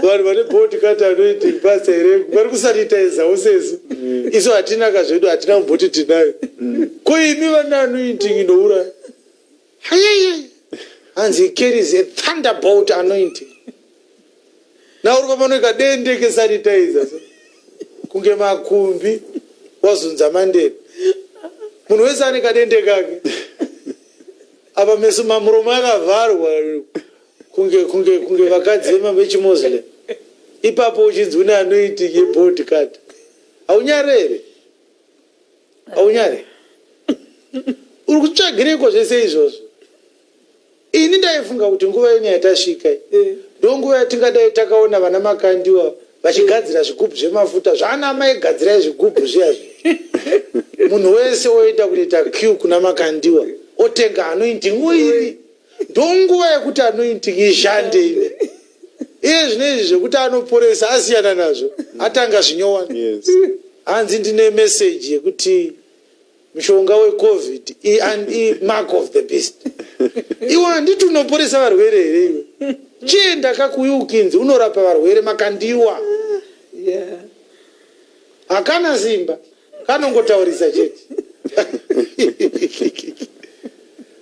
vanhu vane body kati anoiti basa here vari kusanitaizawo sesu mm. isu hatina ka zvedu hatina kumboti tinayo mm. ko imi vane anointing inouraya hayeye hanzi he carries a thunderbolt anointing nauri kwamanoika dende kesanitizer so kunge makumbi wazunza mandeni munhu wese ane kadende kake apa meso mamuromo akavharwa kunge kunge kunge vakadzi vechimoslem ipapo uchinzi une anoiti yebod card haunyare here haunyare uri kutsvagireiko zvese izvozvo ini ndaifunga kuti nguva ino yatasvika eh. ndo nguva yatingadai takaona vana makandiwa vachigadzira zvigubhu zvemafuta zvaana amai gadzirai zvigubhu zviya zvi munhu wese oita kuita q kuna makandiwa otenga anointi nguiri ndonguva yekuti anointing ishande ine iye zvine izvi zvekuti anoporesa asiyana nazvo atanga zvinyowani Yes. hanzi ndine meseji yekuti mushonga wecovid i- and i- mark of the beast iwe handiti unoporesa varwere here iwe chienda kakuuya ukinzi unorapa varwere makandiwa Yeah. Hakana simba, kanongotaurisa chete.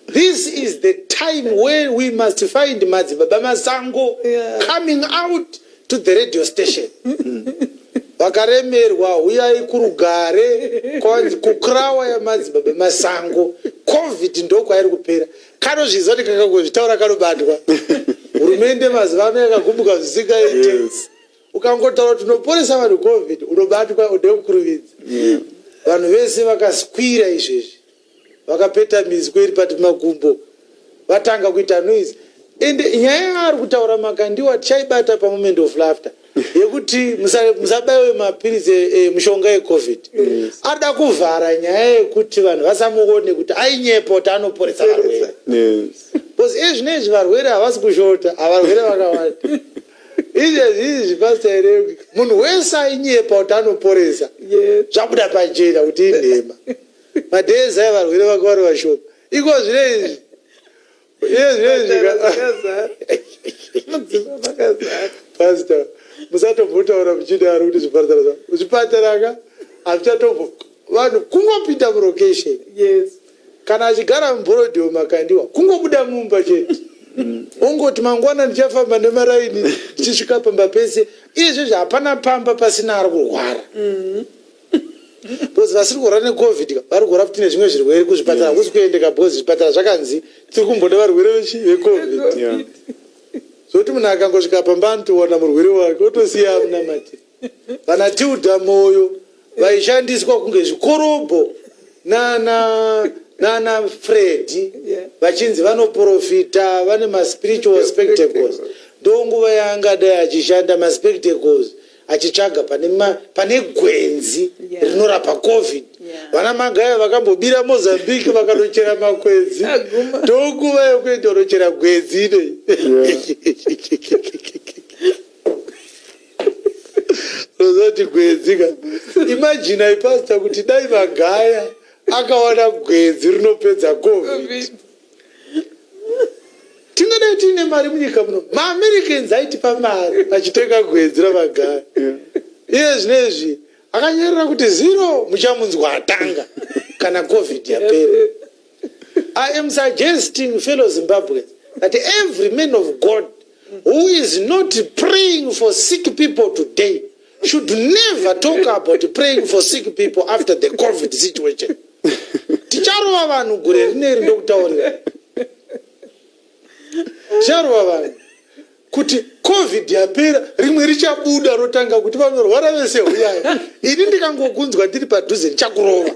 This is the time where we must find Madzibaba Masango yeah. coming out to the radio station. vakaremerwa huyai kurugare kukrawa yamadzibaba masango covid ndokwairi kupera kanozviziva kuti kakangozvitaura kanobatwa hurumende mazuva ano yakagumbuka zvisingaite yes. ukangotaura kuti unoporesa vanhu covid unobatwa ude kukuruvidza vanhu vese vakaskwira izvezvi vakapeta mizwe iri pati magumbo vatanga kuita noise and nyaya yaari kutaura makandiwa tichaibata pamoment of laughter yekuti musa- musabaiwe mapiritsi e- e- mushonga yecovid ada kuvhara nyaya yekuti vanhu vasamuone kuti ainyepa kuti anoporesa varwere Yes. bcause ezvinezvi varwere havasi kushota avarwere vakawanda Izvi hazvizi pastor here kuti munhu wese ainyepa kuti anoporesa Yes. zvabuda pachena kuti inhema. Madhezi aya varwere vake vari vashoma. Iko zvine izvi. Iye zvine izvi ka- Vakazara. Mudzimba vakazara. Pastor, musatombotaura muchidaro kuti zvipatara zva- zvipatara ka hazvichatombo vanhu kungopinda mulocation Yes. Kana achigara mubhorodhi weMakandiwa kungobuda mumba chete ongoti mangwana ndichafamba nemaraini ndichisvika pamba pese. Izvezvi hapana pamba pasina ari kurwara because vasiri kurwara necovid ka, vari kurwara futi nezvimwe zvirwere kuzvipatara hakusi kuendeka because zvipatara zvakanzi tiri kumboda varwere vechi- vecovid Yeah. zvokuti munhu akangosvika pamba anotowana murwere wake otosiya amunamatira Vana Tilda Moyo vaishandiswa kunge zvikorobho nana nana Freddy Yeah. vachinzi vanoprofita vane maspiritual spectacles ndonguva yaangadai achishanda maspectacles achitsvaga pane, ma, pane gwenzi Yeah. rinorapa covid Yeah. vana magaya vakambobira mozambique vakanochera makwenzi Aguma. ndonguva yekuenda unochera gwenzi inei rozoti gwedzi ka imajini aipasita kuti dai magaya akawana gwedzi rinopedza covid tingadai tiine mari munyika muno maamericans aitipa mari achitenga gwedzi ramagaya iye zvinezvi akanyarira kuti zero muchamunzwa atanga kana covid yapera I am suggesting fellow Zimbabweans that every man of God who is not praying for sick people today should never talk about praying for sick people after the COVID situation. Ticharova vanhu gore rineri ndokutaurira. Ticharova vanhu kuti covid yapera rimwe richabuda rotanga kuti vanorwara vese huyai ini ndikangokunzwa ndiri padhuze ndichakurova